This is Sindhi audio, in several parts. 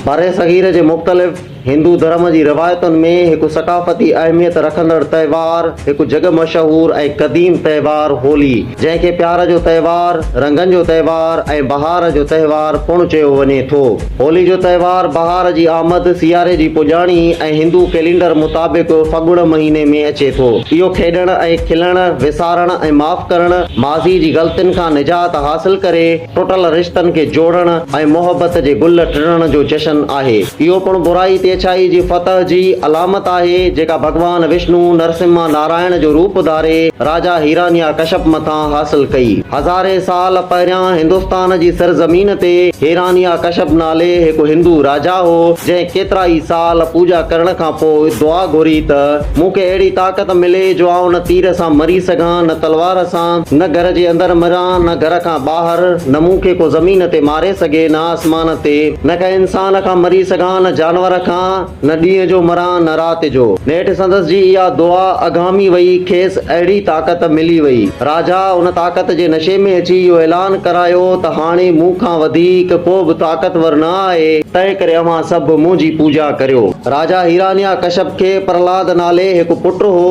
برصغير جي مختلف هندو ڌرم جي روايتن ۾ هڪ ثقافتي اهميت رکندڙ تهوار هڪ جڳ مشهور ۽ قديم تهوار هولي جنهن کي پيار جو تهوار، رنگن جو تهوار ۽ بهار جو تهوار پڻ چيو وڃي ٿو. هولي جو تهوار بهار جي آمد، سياري جي پڄاڻي ۽ هندو ڪئلينڊر مطابق ڦڳڻ مهيني ۾ اچي ٿو. اهو کيڏڻ ۽ کلڻ، وسارڻ ۽ معاف ڪرڻ، ماضي جي غلطين کان نجات حاصل ڪري ٽٽل رشتن کي جوڙڻ ۽ محبت جي گل ٽڙڻ جو جشن آهي. اهو پڻ برائي تي اڇائي جي فتح جي علامت آهي، جيڪا ڀڳوان وشنو، نرسمها نارائڻ جو روپ ڌاري، راجا هيرانيا ڪشپ مٿان، حاصل ڪئي. هزارين سال پهريان هندستان جي سرزمين تي هيرانيا ڪشپ نالي هڪ هندو راجا هو، جنهن ڪيترائي سال پوڄا ڪرڻ کان پوء دعا گهري ته، مون کي اهڙي طاقت ملي جو آئون نه تير سان مري سگهان، نه تلوار سان، نه گهر جي اندر مران، نه گهر کان ٻاهر، نه مون کي ڪو زمين تي ماري سگهي، نه آسمان تي، نه ڪنهن انسان کان مري سگهان، نه جانور کان. نه ڏينهن جو مران نه رات جو. نيٺ سندس جي اها دعا اگهامي وئي، کيس اهڙي طاقت ملي وئي. راجا ان طاقت جي نشي ۾ اچي اهو اعلان ڪرايو ته هاڻي مون کان وڌيڪ ڪو به طاقتور نه آهي، تنهنڪري اوهان سڀ منهنجي پوڄا ڪريو. راجا هيرانيا ڪشپ کي پرهلاد نالي هڪ پٽ هو،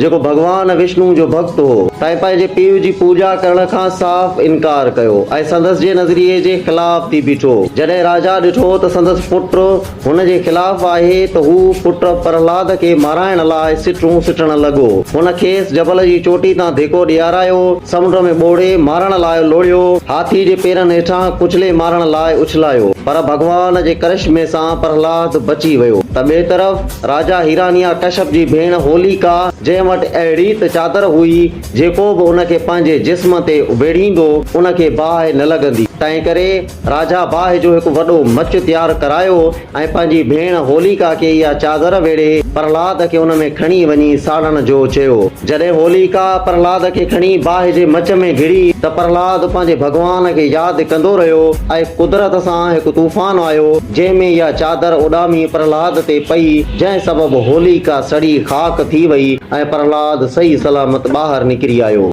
جيڪو ڀڳوان وشنوء جو ڀڳت هو. تنهن پنهنجي پيء جي پوڄا ڪرڻ کان صاف انڪار ڪيو ۽ سندس جي نظريي جي خلاف ٿي بيٺو. جڏهن راجا ڏٺو ته سندس پٽ. هن جي خلاف آهي ته هو پٽ پرهلاد کي مارائڻ لاء سٽون سٽڻ لڳو. هن کيس جبل جي چوٽي تان ڌيڪو ڏيارايو، سمنڊ ۾ ٻوڙي مارڻ لاء لوڙهيو، هاٿي جي پيرن هيٺان ڪچلي مارڻ لاء اڇلايو، پر ڀڳوان جي ڪرشمي سان پرهلاد بچي ويو. ته ٻئي طرف راجا هيرانيا ڪشپ جي ڀيڻ هوليڪا، جنهن وٽ اهڙي ته چادر هئي، جيڪو به ان کي پنهنجي جسم تي اڀيڙيندو، ان کي باهه نه لڳندي، تنهنڪري راجا باهه جو هڪ وڏو مچ تيار ڪرايو ۽ پنهنجي ڀيڻ هوليڪا کي اها چادر ويڙهي پرهلاد کي ان ۾ کڻي وڃي ساڙڻ جو چيو. جڏهن هوليڪا پرهلاد کي کڻي باهه جي مچ ۾ گهڙي ته پرهلاد پنهنجي ڀڳوان کي ياد ڪندو رهيو ۽ قدرت سان هڪ طوفان آيو جنهن ۾ اها چادر اڏامي پرهلاد تي پئي جنهن سبب هوليڪا سڙي خاڪ ٿي وئي ۽ پرهلاد صحيح سلامت ٻاهر نڪري آيو.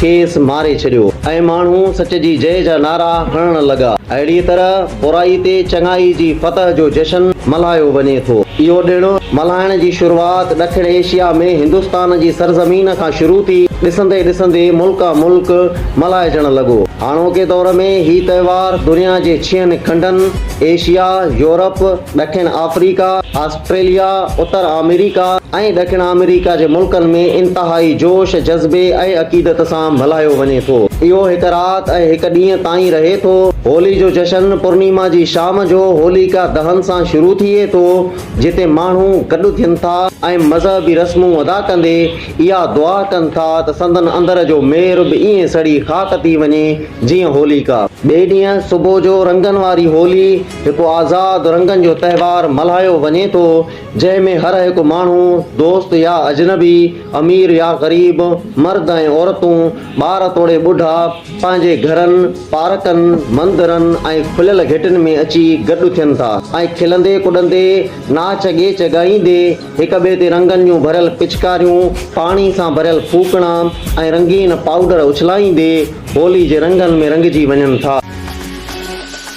کيس ماري ڇڏيو ۽ ماڻهو سچ جي جئي جا نعرا هڻڻ لڳا. اهڙيء طرح برائي تي چڱائي جي فتح جو جشن ملهايو وڃي ٿو. اهو ڏڻ ملهائڻ جي شروعات ڏکڻ ايشيا ۾ هندستان جي سرزمين کان شروع ٿي، ڏسندي ڏسندي ملڪان ملڪ ملهائجڻ لڳو. هاڻوڪي دور ۾ هي تهوار دنيا جي ڇهن کنڊن، ايشيا، يورپ، ڏکڻ آفريڪا، آسٽريليا، اتر آمريڪا ۽ ڏکڻ آمريڪا جي ملڪن ۾ انتهائي جوش، جذبي ۽ عقيدت سان ملهايو وڃي ٿو. اهو هڪ رات ۽ هڪ ڏينهن تائين رهي ٿو. هولي جو جشن پورنيما جي شام جو هوليڪا دهن سان شروع ٿئي ٿو، جتي ماڻهو گڏ ٿين ٿا ۽ مذهبي رسمون ادا ڪندي اها دعا ڪن ٿا ته سندن اندر جو مير به ائين سڙي خاڪ ٿي وڃي جيئن هوليڪا. ٻئي ڏينهن صبح جو رنگن واري هولي. هڪ آزاد رنگن جو تهوار ملهايو وڃي ٿو، جنهن ۾ هر هڪ ماڻهو، دوست يا اجنبي، امير يا غريب، مرد ۽ عورتون، ٻار توڙي ٻڍا، پنهنجي گهرن، پارڪن، مندرن ۽ کليل گهٽين ۾ اچي گڏ ٿين ٿا ۽ کلندي ڪڏندي، ناچ ڳيچ ڳائيندي، هڪ ٻئي تي رنگن جون ڀريل پچڪاريون، پاڻي سان ڀريل ڦوڪڻا ۽ رنگين پائوڊر اڇلائيندي، هولي جي رنگن ۾ رنگجي وڃن ٿا.